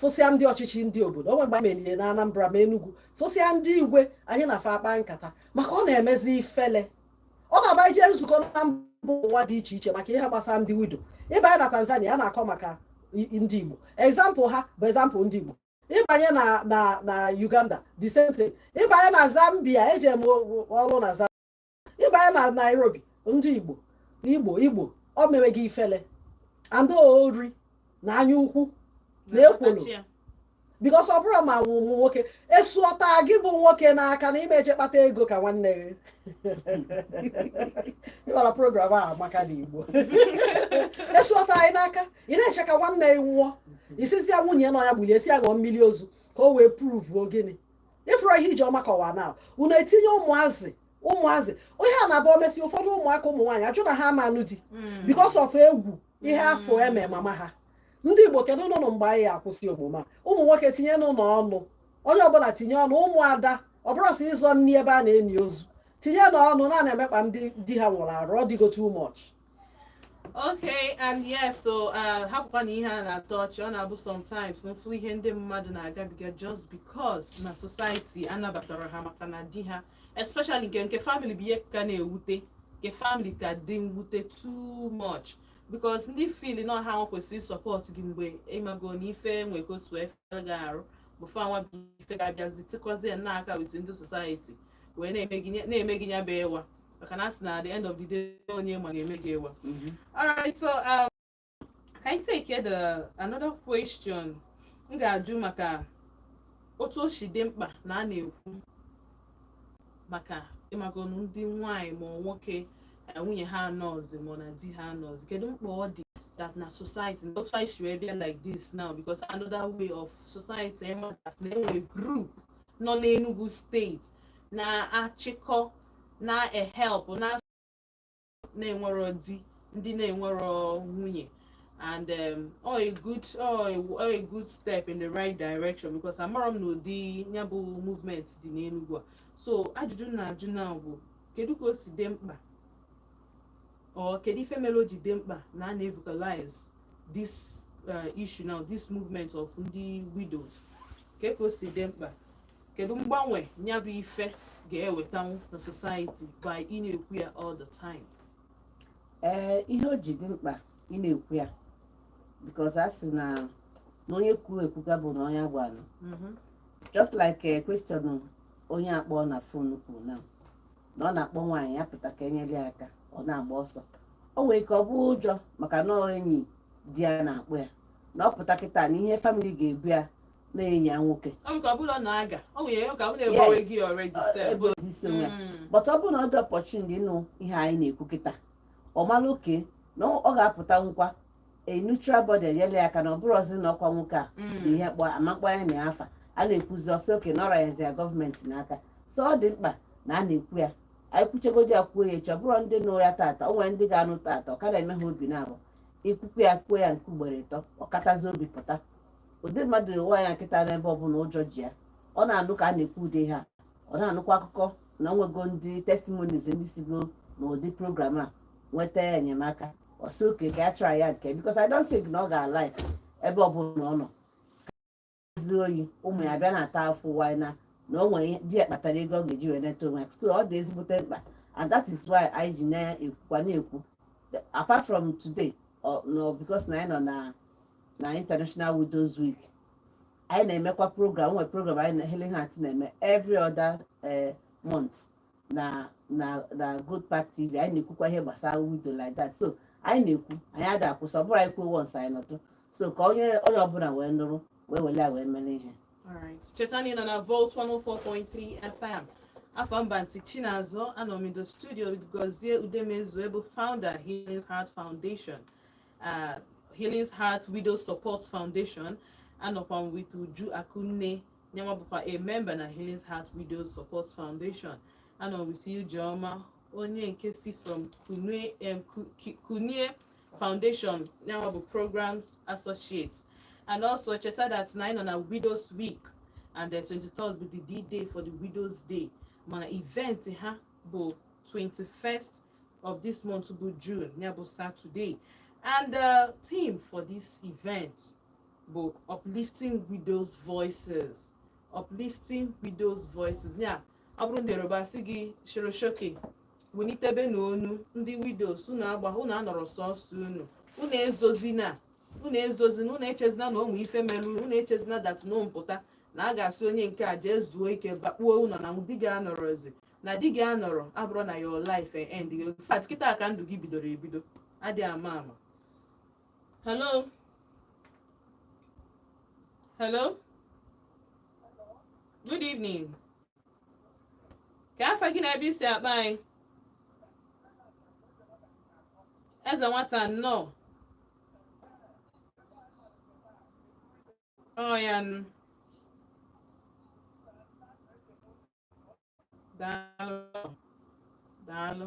fụsịa ndị ọchịchị ndị obodo o nwe mgbe anyị melie na Anambra ma Enugu fụsịa ndị igwe anyị na fa akpa nkata maka ọ na-emezi ifele ọ na-abụ ije nzukọ na mba ụwa dị iche iche maka ihe gbasara ndị wido ịbanye na Tanzania a na-akọ maka ndị Igbo example ha bụ example ndị Igbo ịbanye na na na Uganda the same thing ịbanye na Zambia eje m ọrụ na Zambia ịbanye na Nairobi ndị Igbo Igbo Igbo o mewe gị ifele and ori na anya ukwu na ekworo because ọ bụrụ ma nwa ụmụ nwoke esuọta gị bụ nwoke n'aka na ị ma-eje kpata ego ka nwanne gị ịgbara program a maka na Igbo esuọta anyị n'aka ị na-eche ka nwanne gị nwụọ ị sịzi ya nwunye na ọ ya gbulie sị ya ṅụọ mmiri ozu ka o wee pruvuo gịnị ịfụrụ ihe Ijeọma kọwara na unu etinye ụmụazị ụmụazị ihe a na-abụ o mesie ụfọdụ ụmụaka ụmụ nwaanyị ajụ na ha ama anụ di hmm. because of egwu ihe hmm. ha fụ e me mama ha ndị Igbo kedunụnụ mgbe anyị akwụsị omume a ụmụ nwoke tinyenụnụ ọnụ onye ọbụla tinye ọnụ ụmụada ọ bụrọ sọ ịzọ nri ebe a na-eni ozu tinyenụ ọnụ na a na-emekpa ndị di ha nwụrụ arụ ọ dịgo too much okay and yes so uh, hapụkwa na ihe a na-atọ ọchị ọ na-abụ sometimes m fụ ihe ndị mmadụ na-agabiga just because na society anabatarọ ha maka na di ha especially nke nke family bụ ihe ka na-ewute nke family ka dị mwute too much because ndị feel na ọ ha nwa kwesịrị support gị mgbe ịmago na ife nwee ka otu efe gị arụ bụ fa nwa bụ ife ga-abịazi tikọzie n'aka with ndị society wee na-eme gị ya bụ ịwa maka na a sị na the end of the day onye ma ga-eme gị ịwa mhm. alright so um, can I take the another question m ga-ajụ maka otu o si dị mkpa na a na-ekwu maka ịmagonu ndị nwanyị ma nwoke eh, nwunye ha anọzi ma na di ha anọzi kedu mkpa ọ dị that na society na otu anyị si wee bịa like this now because another way of society ịma eh, that na enwere group nọ n'Enugu steeti na-achịkọ na-ehelpụ ndị na-enwero di ndị na-enwero nwunye and um, ọ a good ọ a, ọ a good step in the right direction because amara m na ụdị ya bụ movement dị n'Enugu a so ajụjụ m na-ajụ now bụ kedu ka o si dị mkpa Or kedu ife mere o ji dị mkpa na a na-evocalize this uh, issue now this movement of ndị widows ka ka o si dị mkpa kedu mgbanwe ya bụ ife ga-ewetanwu na society by ị na-ekwu ya all the time ee ihe o ji dị mkpa ị na-ekwu ya because a sị na na onye kwuru ekwuga bụ na onye agwanụ just like question onye a kpọọ na phone kwuru na na ọ na-akpọ nwaanyị a pụta ka enyere ya aka ọ na-agba ọsọ o nwere ike ọ bụ ụjọ maka na ọ enyi di ya na-akpọ ya na ọ pụta kịta na ihe family ga-ebo ya na enyi ya nwoke Ọ bụ ka ọ bụla na aga. Ọ nwere ya ka ọ bụla ebowe Yes. gị already Ọ- sef. ebe ozi isi onwe ya Mm. but ọ bụrụ na ọ dị opportuned ịnụ ihe anyị na-ekwu kịta ọ mara okay na ọ ga-apụta nkwa a neutral body enyela ya aka na ọ bụrọzi na ọkwa nwoke a Mm. na ihe kpọ amakpọ ya na ya afa a na-ekwuzi ọ sị okay na ọrịa yazi ya government n'aka so ọ dị mkpa na a na-ekwu ya anyị kwuchegodi ya kwuo ya echi ọ bụrụ ndị nụ ya tata o nwere ndị ga-anụ tata ọ ka na-eme ha obi naabọ i kwukwuo ya kwuo ya nke ugboro ịtọ ọ katazi obi pụta ụdị mmadụ ahụ ya nọ kịta n'ebe ọbụla ụjọ ji ya ọ na-anụ ka a na-ekwu ụdị ihe a ọ na-anụkwa akụkọ na o nwego ndị testimonies ndị sigo n'ụdị program a nweta enyemaka ọ sị okay ka a try ya nke a because I don't think na ọ ga-alike ebe ọbụla ọ nọzi o ji ụmụ ya bịa na-ata afụfụ while na o nwere di ya kpatara ego ọ ga-eji wee neta onwe ya so ọ dị ezigbote mkpa and that is why anyị ji na-ekwukwa na-ekwu apart from today not because na anyị nọ na na international widows week anyị na-emekwa program o nwere program anyị na Healing Heart na-eme every other eh, month na na na good park tv anyị na-ekwukwa ihe gbasara widow like that so anyị na-ekwu anyị ada akwụsị ọ bụrọ anyị kwuo once anyị nọtụ so ka onye onye ọbụla wee nụrụ wee wele ya wee mere ihe cheta na ị nọ na volt 104.3 fm afa m bụ auntie chinazọ anọ m in the studio with gozie udemezue bụ founder healing heart foundation uh, healing heart widow support foundation anọkwa m with uju akunne nyanwa bụkwa a member na Healing Heart Widows Support Foundation anọ m with Ijeoma onye nke si from Kunie Foundation nyanwa bụ program associate and also cheta that na anyị nọ na Widows Week and the 23rd bụ the D-Day for the Widows Day mana event ha bụ 21st of this month bụ June ya bụ Saturday and the theme for this event bụ uplifting widows voices uplifting widows voices yeah ọ bụrụ ndị yoruba a sị gị soro soke welitebenụ ọnụ ndị widows unu agba unu anọrọ sọsọ unu unu ezozina unu ezozina unu echezina na ụmụ ife mere unu echezina that na m pụta na a ga-asị onye nke a jee zuo ike bakpuo ụlọ na di gị anọrọzi na di gị anọrọ abụrọ na your life end in fact kịta ka ndụ gị bidoro ebido adị ama ama hello hello good evening ka afa gị na ebe i si akpọ anyị eze nwata nnọọ ọ ya nụ daalụ daalụ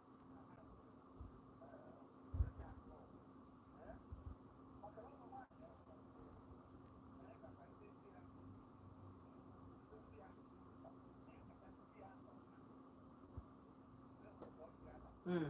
Mm.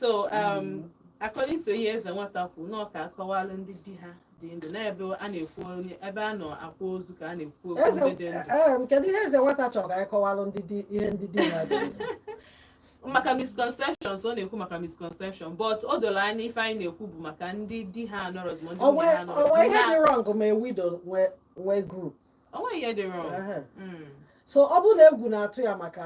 so um, according to ihe eze nwata kwuru na ọ ka akọwalụ ndị di ha dị ndụ n'ebe a na-ekwu onye ebe a nọ akwa ozu ka a na-ekwu okwu eze ndị dị ndụ ee, m, kedu ihe eze nwata chọrọ ka anyị kọwalụ ndị di ihe ndị di ha dị ndụ? maka misconceptions ọ na-ekwu maka misconception but o dolu anya ife anyị na-ekwu bụ maka ndị di ha anọrọzi ma ndị Ọ nwunye nwee- ha ọ nwee ihe anọrọzi dị wrong ma widow nwee nwee group O nweghị ihe dị wrong. Ehe. Mm. so ọ bụrụ na egwu na-atụ ya maka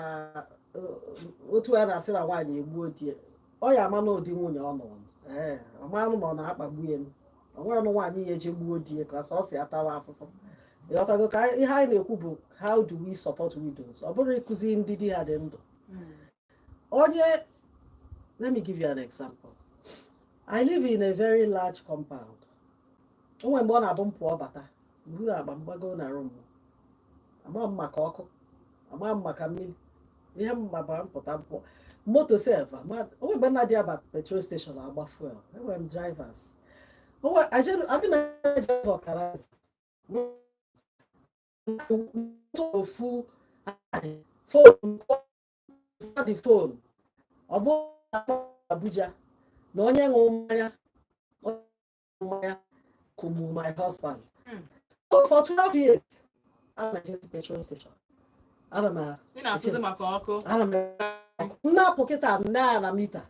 uh, otu a na-asị na nwaanyị egbuo di ya ọ ya ama na ụdị nwunye ọ nụrụ Ee, ọ maanụ ma ọ na-akpagbu ya o nwenụ nwaanyị ya-eji gbuo di ya ka sọ ọ si atawa afụfụ ị ghọtago ka anyị- ihe anyị na-ekwu bụ how do we support widows ọ bụrọ ịkụzi ndị di ha dị ndụ Mm. onye let me give you an example i live in a very large compound o nwe mgbe ọ na-abụ m pụọ bata m buru akpa m gbago na room ama m maka ọkụ ama m maka mmili ihe m ma bụ m pụta m pụọ moto sef o nwe mgbe m na-adị aba petrol station agba fuel enwere m drivers adị m eje ọkara ofu phone the phone ọ bụ Abuja na onye ṅụrụ mmanya mmanya kụgburu my husband hmm. so for 12 years ana m ejezi petrol station ana m ana m na-apụ kịta m nee anya meter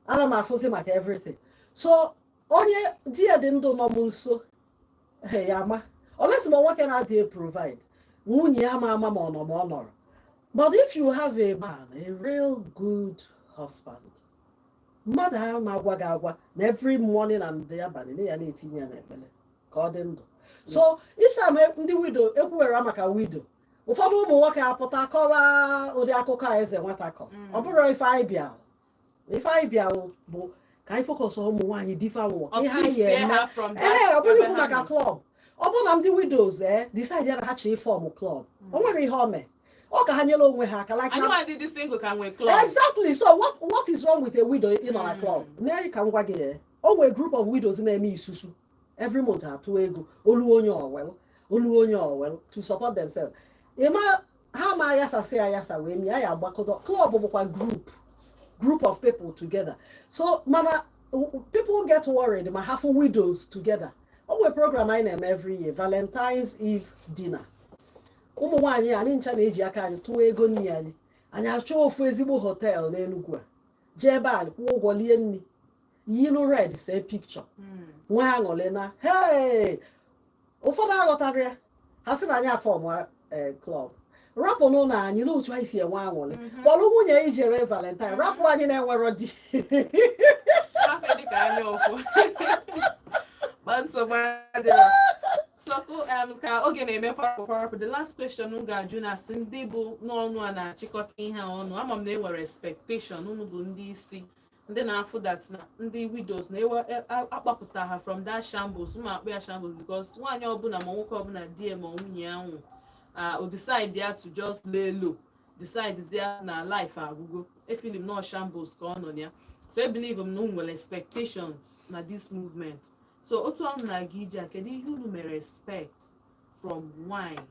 ana m afụzi maka everything so onye di ya dị ndụ nọ m nso ya ama unless ma nwoke na-adị provide nwunye ya ma ama ma ọ nọ ma ọ nọrọ but if you have a man a real good husband mmadụ ahụ na-agwa gị agwa na every morning and the abalị na ị ya na-etinye ya n'ekpere ka ọ dị ndụ so ịsa ma ndị widow ekwuwere maka widow ụfọdụ ụmụ nwoke apụta kọwaa ụdị akụkọ a eze nwata kọ mm. ọ bụrọ ife anyị bịa ife anyị bịa bụ ka anyị focus ụmụ nwaanyị di fa nwụọ ihe anyị eme ee ọ bụghị ikwu maka club ọ bụrụ na ndị widows ee eh, decide ya na ha chọrọ ịform club o hmm. nwere ihe o mee ọ ka ha nyere onwe ha aka like na exactly so what what is wrong with a widow ịnọ na club hmm. mee ka m gwa gị eh, o nwere group of widows na-eme isusu every month atụ ego o luo onye o welu o luo onye o welu to support themselves ịma ha ma ayasasị ayasa wee mie anyị agbakọta club bụkwa group group of people together so mana people get worried ma ha fụ widows together o nwere program anyị na-eme every year valentine's eve dinner ụmụ nwaanyị anyị ncha na-eji aka anyị tụọ ego nri anyị anyị achọọ ofu ezigbo hotel n'Enugwu a jee ebe a kwụọ ụgwọ lie nri yilu red see picture hmm. nwee aṅụlị na hee ụfọdụ aghọtara ya ha sị na anyị aformụa club rapụnụ anyị n'otu anyị si enwe aṅụrị mhm. kpọrọ nwunye gị jere valentine mhm. rapụ anyị na-enwerọ di Um, ka oge na-eme kwarapụ the last question m ga-ajụ na asị ndị bụ n'ọnụ a na-achịkọta ihe ọnụ ama m na e nwere expectation unu bụ ndị isi ndị na-afụ that na ndị widows na-ewe e, akpapụta ha from that shambles ma akpọ ya shambles because nwaanyị ọbụla ma nwoke ọbụla di ya ma nwunye ya nwụ o decide ya to just lay low decide ya na life agwụgo e feel m na shambles ka ọ nọ ya so e believe m na unu nwere expectations na this movement so otu ahụ na-aga ije a kedu ihe unu mere expect from nwanyị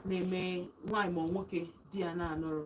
na-eme nwanyị ma nwoke di ya na-anọrọ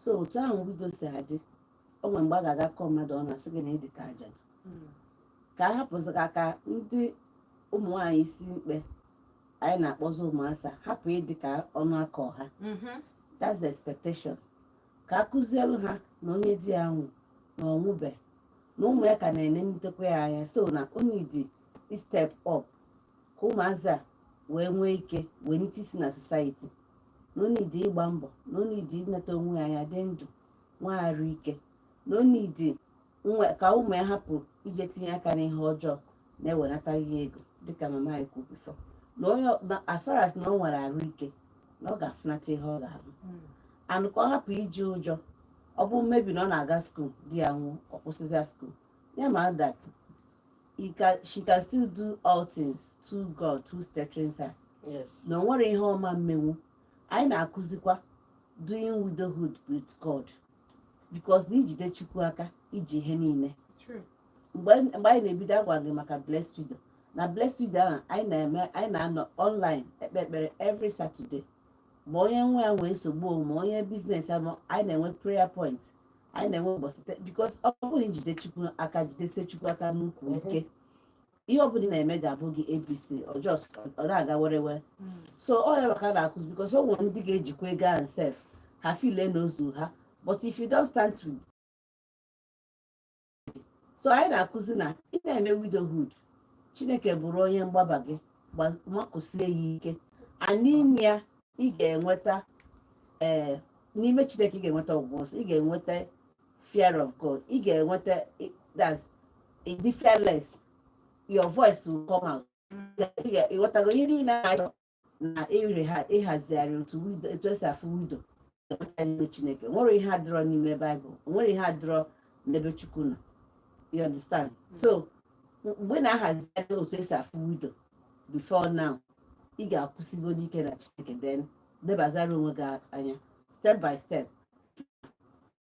so otu ahụ widow si adị o nwere mgbe a ga-aga kọọ mmadụ ọnụ a sị gị na ị dị ka ajadu ka a hapụzi ka ka ndị ụmụ nwaanyị isi mkpe anyị na-akpọzi ụmụ asa hapụ ịdị ka ọnụ aka ọha that's the expectation ka a kụzielu ha na onye di ya nwụ na ọ nwụbe na ụmụ ya ka na-enenitekwa ya anya so na o need ịstep up ka ụmụazị a wee nwee ike wee nite isi na society na o need ịgba mbọ na o need ineta onwe ya anya dị ndụ nwee arụ ike na o need ka ụmụ ya hapụ ije tinye aka n'ihe ọjọọ na-ewenata ihe ego dịka mama anyị kwuru before na onye as far as na ọ nwere arụ ike na ọ ga-afụnata ihe ọ ga-arụ hmm. and ka ọ hapụ iji ụjọ ọ bụrụ maybe na ọ na-aga school di ya nwụọ ọ kwụsịzịa school ya ma that he can she can still do all things through God who strengthens her yes na o nwere ihe ọma mmenwu anyị na-akụzikwa doing widowhood with God because na i jide Chukwu aka i ji ihe niile true mgbe anyị mgbe anyị na-ebido agwa gị maka blessed widow na blessed widow ahụ anyị na-eme anyị na-anọ online ekpe ekpere every Saturday ma onye nwa ya nwee nsogbu o, ma onye business ya ma anyị na-enwe prayer point anyị na-enwe ụbọchị taa because ọ bụrụ na i jide chukwu aka jidesie chukwu aka n'ukwu ike ihe ọ bụla ị na-eme ga-abụ gị abc ọ just ọ na-aga were were so ọ ya nwa ka a na-akụzi because o nwere ndị ga-ejikwa ego ahụ sef ha file na ozu ha but if you don't stand to so anyị na-akụzi na ị na-eme widowhood chineke bụrụ onye mgbaba gị makụsie ya ike n'ime ya ị ga-enweta ee eh, n'ime chineke ị ga-enweta ọgwụgwọ ị ga-enweta fear of god ị ga-enweta that's the fearless your voice will come out ị ghọtago ihe niile ị na-achọ na ire ha ịhazigharị otu etu e si afụ widow enweta n'ime chineke o nwerọ ihe adịrọ n'ime baịbụl o nwerọ ihe adịrọ n'ebe chukwu nọ you understand hmm. so mgbe ị na-ahazigharị otu e si afụ widow before now ị ga-akwụsigo n'ike na chineke then nebazara onwe gị anya step by step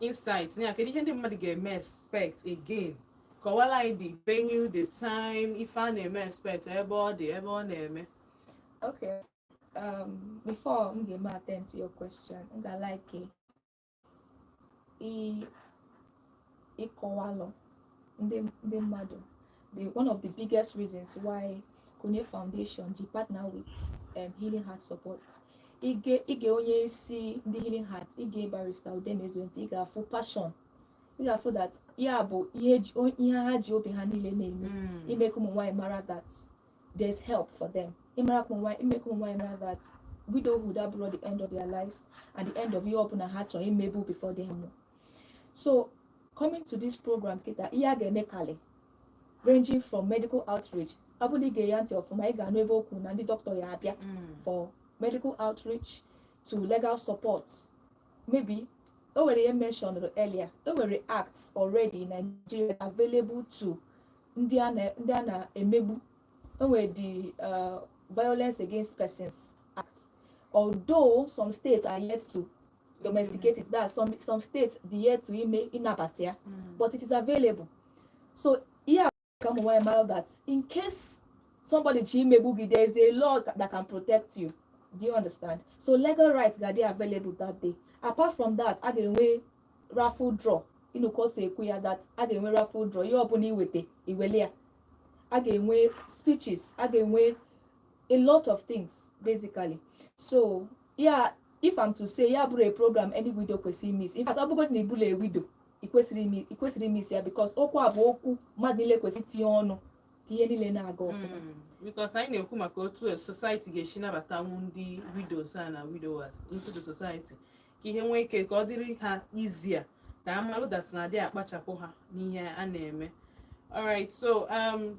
insight ya kedu ihe ndị mmadụ ga-eme expect again kọwala anyị the venue the time ife a na-eme expect ebe ọ dị ebe ọ na-eme okay um, before m ga-eme attend to your question m ga like ịkọwalụ ndị ndị mmadụ the one of the biggest reasons why Kunie Foundation ji partner with um, Healing Heart Support i gee i gee onye isi ndị Healing Heart i gee barrister Udemezue ntị ị ga-afụ passion ị ga-afụ that ya bụ ihe ihe ha ji obi ha niile na-eme hmm. ime ka ụmụ nwaanyị mara that there's help for them ịmara ka ụmụ nwaanyị ime ka ụmụ nwaanyị mara that widowhood abụrọ the end of their lives and the end of ihe ọbụla ha chọrọ imebu before di nwụọ so coming to this program kịta ihe a ga-emekalị ranging from medical outreach ọ bụrụ na i gee ya ntị ọfụma ị ga-anụ ebe o kwuu na ndị doctor ya-abịa mm. for medical outreach to legal support maybe o nwere ihe mentioned earlier o nwere acts already in Nigeria available to ndị a na-emegbu o nwere the uh, violence against persons act although some states are yet to domesticate it that some some states dị yet to ime ịnabata ya mm. but it is available so ihe a ka ụmụ nwaanyị mara that in case somebody chọọ imegbu gị there is a law that can protect you do you understand so legal rights ga-adị available that day apart from that a ga-enwe raffle draw ị nụ ka o si ekwu ya that a ga-enwe raffle draw ihe ọbụla iweta iwele ya a ga-enwe speeches a ga-enwe a lot of things basically so yeah if I'm to say ya bụrọ a program any widow kwesịrị imiss in fact ọ bụgodị na ị bụrọ a widow i kwesịrọ imiss ya because okwu a bụ okwu mmadụ niile kwesịrị itinye ọnụ ka ihe niile na-aga ọfụma hmm, because anyị na-ekwu maka otu society ga-esi nabatanwu ndị widows a na widowers into the society ka ihe nwee ike ka ọ dịrị ha easier ka a malụ that na adị akpachapụ ha n'ihe a na-eme alright so um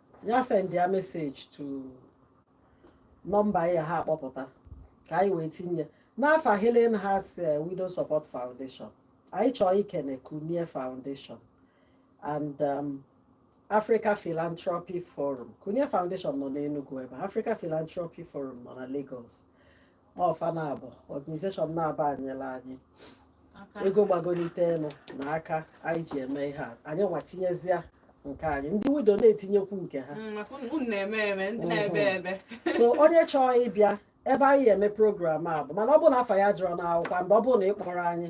ya send ya message to nọmba ya ha akpọpụta ka anyị wee tinye n'afa Healing Hearts eh, Widow Support Foundation anyị chọọ ikene Kunie Foundation and um, Africa Philanthropy Forum Kunie Foundation nọ n'Enugu ebe Africa Philanthropy Forum nọ na Lagos ọ fa naabọ organization naabọ a nyela anyị ego gbagolite enu na aka anyị ji eme ihe a anyị nwa tinyezia nke anyị ndị widow na-etinyekwu nke ha mm, mm-hmm. so onye chọọ ịbịa ebe anyị eme program a bụ mana ọ bụrụ na afa ya adịrọ n'akwụkwọ mgbe ọ bụrụ na ị kpọrọ anyị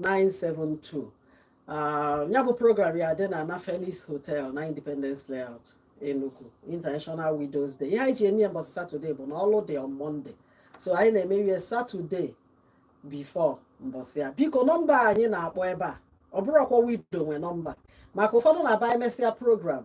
972 ah, ya bụ program ya dị na na Felix Hotel na Independence Layout Enugu International Widows Day ihe anyị ji eme ya mbọsị Saturday bụ na ọlụ dị on Monday so anyị na-eme ihe Saturday before mbọsị ya biko nọmba anyị na-akpọ ebe a ọ bụrọkwa widow nwe nọmba maka ụfọdụ na-abụ e mesịa program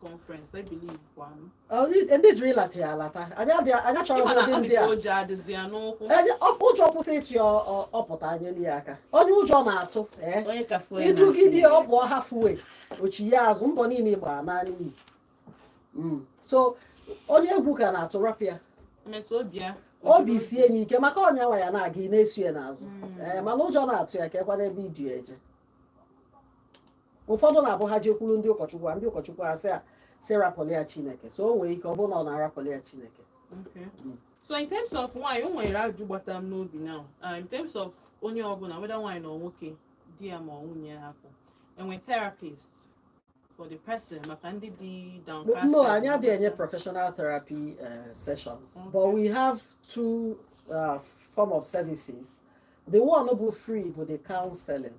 conference I believe one. Oh, ndị jiri ịlata ya alata anyị chọrọ ụdị ndị a ụjọ adịzi ya n'ụkwụ ụjọ kwụsị ịtụ ya ọ pụta anyị enye ya aka onye ụjọ na-atụ i dugide eh? ọ bụ halfway o chia azụ mbọ niile gbara anaa n'iyi hmm. so onye egwu ka na-atụ rapụ ya obi sie anyị ike maka onye nwe ya na-aga ị na-eso ya n'azụ hmm. eh, mana ụjọ na-atụ ya ka ekwana ebe idi eje ụfọdụ na-abụ ha jekwuru ndị ụkọchukwu a ndị ụkọchukwu a sị a sị rapụlụ ya chineke so o nwere ike ọ bụrụ na ọ na-arapụlụ ya chineke Okay. Mm. So in terms of nwanyị o nwere ajụjụ gbata m n'obi now uh, in terms of onye ọbụla whether nwanyị na nwoke di ya ma ọ nwunye ya hapụ enwe therapist for the person maka ndị dị downcasted. no anyị adịghị enye professional therapy uh, sessions Okay. but we have two uh, form of services the one bụ free bụ the counseling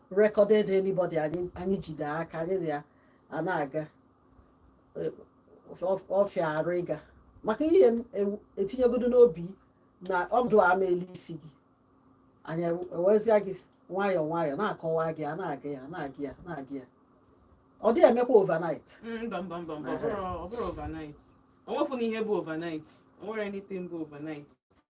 recorded anybody anyị jide aka anyị na ya a na-aga ọ fịa arụ ịga maka ihe etinyegodo n'obi na ọdụ ama elu isi gị anyị ewezia gị nwayọọ nwayọọ na-akọwa gị a na-aga ya na-aga ya na-aga ya ọ dịghị emekwa overnight mm, mba mba mba mba ọ bụrụ overnight o nwekwanụ ihe bụ overnight o nwere anything bụ overnight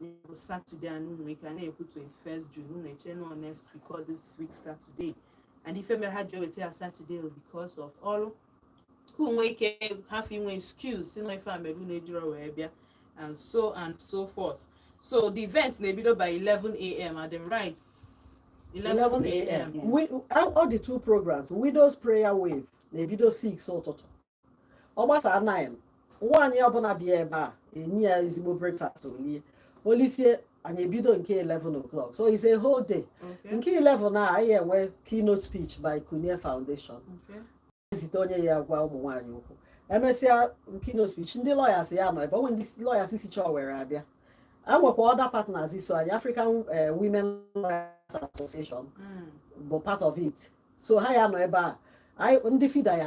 bụ satọde a unu nwere ike a na-ekwu 21st June unu eche na ọ next week or this week Saturday and ife mere ha ji eweta ya Saturday because of ọrụ unu nwee ike hafụ inwe excuse sị na ife a mere unu ejiro wee bịa and so and so forth so the event na-ebido by 11 a.m. at the right 11 a.m. all the two programs Widow's Prayer Wave na-ebido 6 ụtụtụ ọ gbasaa 9 nwaanyị ọbụla bịa ebe a enye ya ezigbo breakfast o lie o lisie anyị ebido nke 11 o'clock so it's a whole day nke 11 a anyị enwe keynote speech by Kunie Foundation ezite onye ya-agwa ụmụ nwaanyị okwu emesịa keynote speech ndị lawyers ya-anọ ebe o nwee ndị lawyers sicha Owerri abịa enwekwa other partners so anyị African eh, Women Lawyers Association mm. bụ part of it so ha ya-anọ ebe a ndị FIDA ya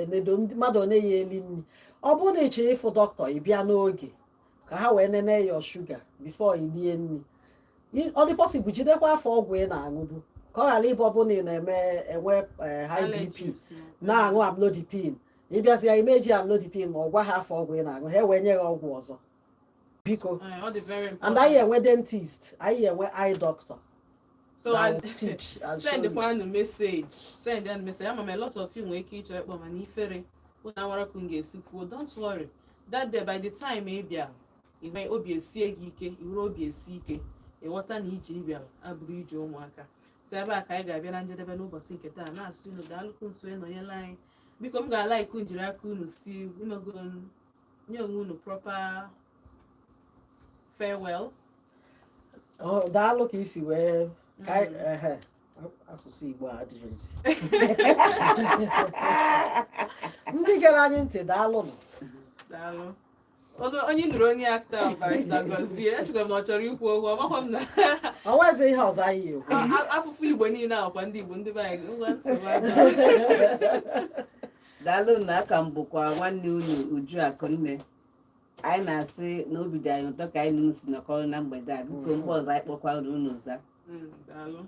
enedo mmadụ ọ na-eyi eli nri ọ bụrụ na ị chọrọ ịfụ dọkịta ị bịa n'oge ka ha wee nene your sugar before ị lie nri ọ dị possible jidekwa afa ọgwụ ị na-aṅụbu ka ọ ghara ịbụ ọ bụrụ na ị na-eme enwe eh, high BP na-aṅụ amlodipine ị bịazịa imeji amlodipine ma ọ gwa ha afa ọgwụ ị na-aṅụ ha ewee nye gị ọgwụ ọzọ biko eh, and anyị enwe dentist anyị enwe eye doctor so I teach send kwanụ message send anyị message ama m a lot of you nwere ike ịchọ ịkpọ mana ifere unu amarọ ka m ga-esi kwuo don't worry that day by the time ị bịa inwe obi esie gị ike i were obi esi ike ịghọta na ije ị bịara abụrọ ije ụmụaka so ebe a ka anyị ga-abịa na njedebe n'ụbọchị nke taa na-asị unu daalụkwu n'iso ịnọnyela anyị biko m ga-alike ka unu jiri aka unu si imego nye onwe unu proper farewell oh, daalụ ka i si wee mm. asụsụ Igbo adịrịzi ndị gere anyị ntị daalụnụ daalụ onye nụrụ onye akta barrister Gozie echekwa m ọ chọrọ ikwu okwu amakwa m na o nwezi ihe ọzọ anyị ekwu afụfụ Igbo niile akwa ndị Igbo ndị be anyị daalụnụ aka m bụkwa nwanne unu Uju Akụnne anyị na-asị na obi dị anyị ụtọ ka anyị na unu si nọkọrọ na mgbede a biko mgbe ọzọ anyị kpọkwa unu unu za Mm, daalụ.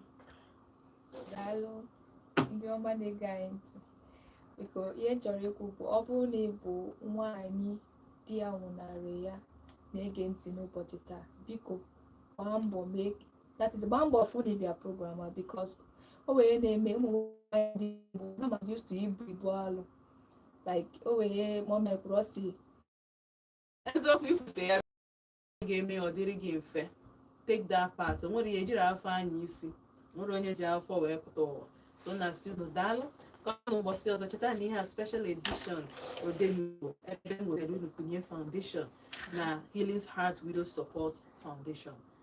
daalụ ndị ọma na-ege anyị ntị biko ihe m chọrọ ikwu bụ ọ bụrụ na ị bụ nwaanyị di ya nwụnarị ya na-ege ntị n'ụbọchị taa biko gbaa mbọ mee that is gbaa mbọ fụ na ị bịa program a because o wee na-eme ụmụ nwaanyị ndị igbo na ma used to ibu ibu alụ like o wee ma ọ mekwuru ọ si eziokwu ikwute ya ga-eme ọ dịrị gị mfe take that part o nwere ihe ejirọ afụfụ anya isi o nwerọ onye ji afụfụ wee pụta ụwa so na-asị unu daalụ ka ọ ụbọchị ọzọ cheta na ihe a special edition odenigbo ebe m wetara unu kunye foundation na healing heart widow support foundation